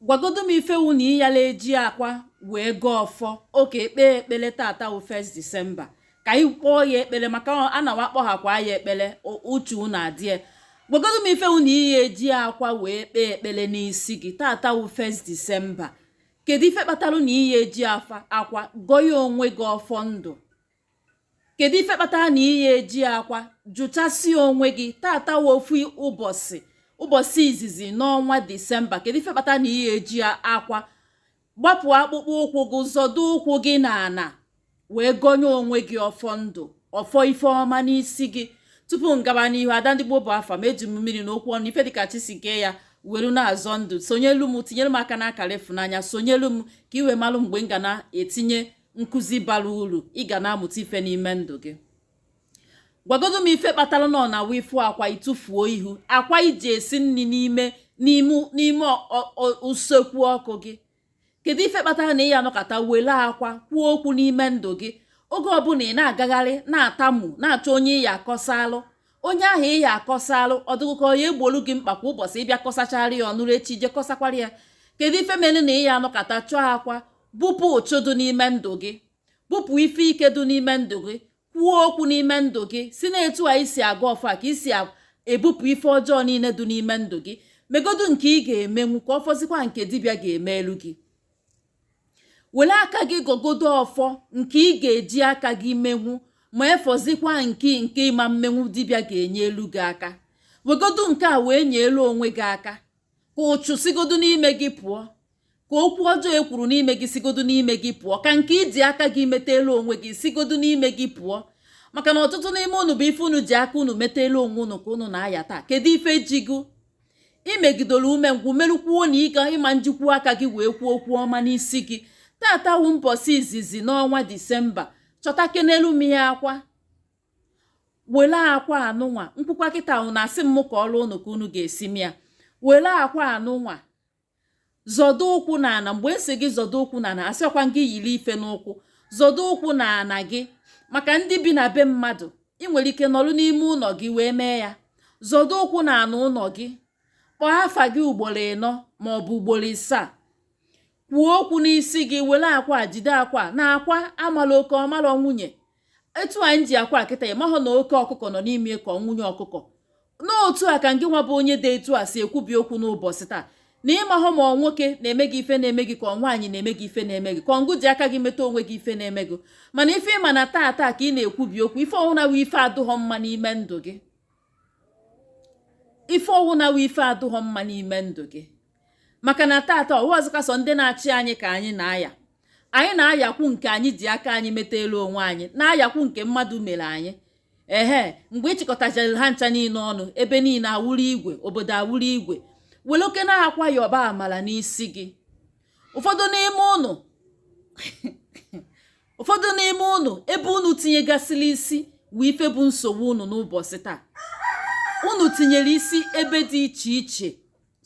gwagodu m ife wụ na ị yala eji akwa wee gọọ ọfọ okay kpee ekpele tata wụ 1st December ka anyị kpọọ ya ekpele maka a na wa kpọhakwa ya ekpele uche unu adịe gwagodu m ife wụ na ị ya eji akwa wee kpee ekpele n'isi gị tata wụ 1st December kedu ife kpatara na ị ya eji akwa gọnye onwe gị ọfọ ndụ kedu ife kpatara na ị ya eji akwa jụchasịa onwe gị tata wụ ofu ụbọchị ụbọchị izizi n'ọnwa disemba kedu ife kpatara na ị ya eji akwa gbapụ akpụkpọ ụkwụ gị zọdo ụkwụ gị na ana wee gọnye onwe gị ọfọ ndụ ọfọ ife ọma n'isi gị tupu m gaba n'ihu ada ndị gboo bụ afa m eji m mmiri na okwu ọnụ ife dịka chi si kee ya were na-azọ ndụ sonyelu m tinyere m aka n'akara ịfụnanya sonyelu m ka i wee malụ mgbe m ga na-etinye nkụzi bara uru ị ga na-amụta ife n'ime ndụ gị gwagodo m ife kpatara na ọ na-awụ ị fụ akwa ị tụfuo ị hụ akwa i ji esi nri n'ime usekwu ọkụ gị kedu ife kpatara na ị ya anọkata were akwa kwuo okwu n'ime ndụ gị oge ọbụla ị na-agagharị na-atamu na-achọ onye ị ya akọsalụ onye ahụ ị ya akọsalụ ọ dụghụkwọ ya egbolu gị mkpa kwa ụbọchị ị bịa kọsachara ya ọ nụrụ echi i je kọsakwara ya kedu ife mere na ị ya anọkata chọọ akwa bupụ uchu dị n'ime ndụ gị bupụ ife ike dị n'ime ndụ gị kwuo okwu n'ime ndụ gị sị na etu a i si agọ ọfọ a ka i si ebupụ ife ọjọọ niile dị n'ime ndụ gị megodu nke ị ga-emenwu ka ọ fọzikwa nke dibịa ga-emelu gị were aka gị gọgodo ọfọ nke ị ga-eji aka gị menwu ma efọzikwa nke nke ị ma mmenwu dibịa ga-enyelu gị aka wegodu nke a wee nyelu onwe gị aka ka uchu sigodu n'ime gị pụọ ka okwu ọjọọ e kwuru n'ime gị sigodu n'ime gị pụọ ka nke i ji aka gị metalu onwe gị sigodu n'ime gị pụọ maka na ọtụtụ n'ime unu bụ ife unu ji aka unu metalu onwe unu ka unu na-aya taa kedu ife ji gị i megidoro umengwụ merukwuo na ị ga ị ma njikwu aka gị wee kwuo okwu ọma n'isi gị tata wụ mbọsị izizi n'ọnwa disemba chọtakenelu m ya akwa were akwa anụnwa m kwukwa kịta unu asị m kọwara unu ka unu ga-esi mee ya were akwa anụnwa zọdo ụkwụ na ana mgbe m sị gị zọdo ụkwụ na ana asịkwa m gị yiri ife n'ụkwụ zọdo ụkwụ na ana gị maka ndị bi na be mmadụ ị nwere ike nọrọ n'ime ụnọ gị wee mee ya zọdo ụkwụ na ana ụnọ gị kpọọ afa gị ugboro ịnọ ma ọ bụ ugboro isaa kwuo okwu n'isi gị were akwa jide akwa na akwa amala oke ọ mara nwunye etu anyị ji akwa a kịta ị mahụ na oke ọkụkọ nọ n'ime ka nwunye ọkụkọ na otu a ka ngị nwa bụ onye dị etu a si ekwubi okwu n'ụbọchị taa na ị mahụ ma ọ nwoke na-eme gị ife na-eme gị ka ọ nwaanyị na-eme gị ife na-eme gị ka ọ ngụ ji aka gị meta onwe gị ife na-eme gị mana ife ị ma na taa taa ka ị na-ekwubi okwu ife ọwụna wụ ife adụghọ mma n'ime ndụ gị ife ọwụna wụ ife adụghọ mma n'ime ndụ gị maka na tata ọwụghọzịkwa sọ ndị na-achị anyị ka anyị na-aya anyị na-ayakwu nke anyị ji aka anyị metaalụ onwe anyị na-ayakwu nke mmadụ mere anyị ehe mgbe ịchịkọtachara ha ncha niile ọnụ ebe niile awụrụ igwe obodo awụrụ igwe were oke na-akwa ya ọba amala n'isi gị ụfọdụ n'ime ụnụ ụfọdụ n'ime ụnụ ebe ụnụ tinyegasịrị isi wụ ife bụ nsogbu ụnụ n'ụbọchị taa ụnụ tinyere isi ebe dị iche iche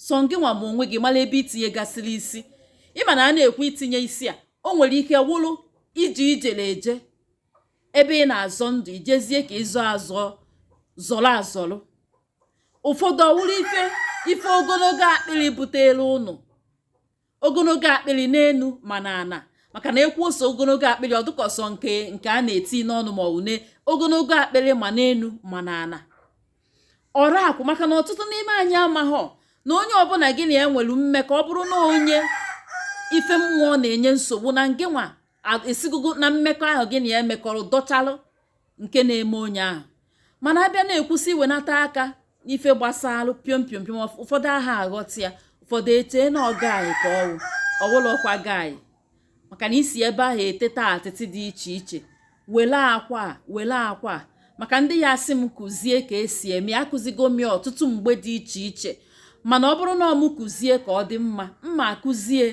sọ gị nwa ma onwe gị mara ebe itinyegasịrị isi ịma na a na-ekwu itinye isi a o nwere ike wụrụ ije ijere eje ebe ị na-azọ ndụ ijezie ka ịzọ azọ zọrọ azọrọ ụfọdụ ọwụrụ ife ife ogologo akpịrị butere ụnụ ogologo akpịrị n'enu ma n'ana maka na ekwuo sị ogologo akpịrị ọdụka sọ nke nke a na-eti n'ọnụ ma une ogologo akpịrị ma n'enu ma n'ana ọra akwụ maka na ọtụtụ n'ime anyị amaghọ na onye ọbụla gị na ya nwere mmekọ ọ bụrụ na onye ife mmụọ na-enye nsogbu na ngị nwa esigogo na mmekọ ahụ gị na ya emekọrọ dọchalụ nke na-eme onye ahụ mana abịa na-ekwusi iwenata aka n'ife gbasalụ piom piom piom ụfọdụ aha aghọta ya ụfọdụ echee na ọ guy ka ọwụ ọwụlọkwa guy maka na ị si ebe ahụ eteta atịtị dị iche iche wele akwa wele akwa maka ndị ya-asị m kụzie ka esi eme ya akụzigo m ọtụtụ mgbe dị iche iche mana ọ bụrụ na ọ mụ kụzie ka ọ dị mma m akụzie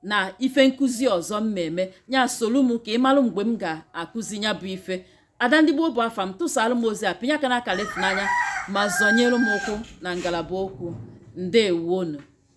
n'ife nkụzi ọzọ m na-eme ya solu m ka ị malụ mgbe m ga-akụzi ya bụ ife ada ndị Igbo bụ afa m tụsaalụ m ozi a pịnye aka n'akara ịfụnanya ma zọnyere m ụkwụ na ngalaba okwu ndewonu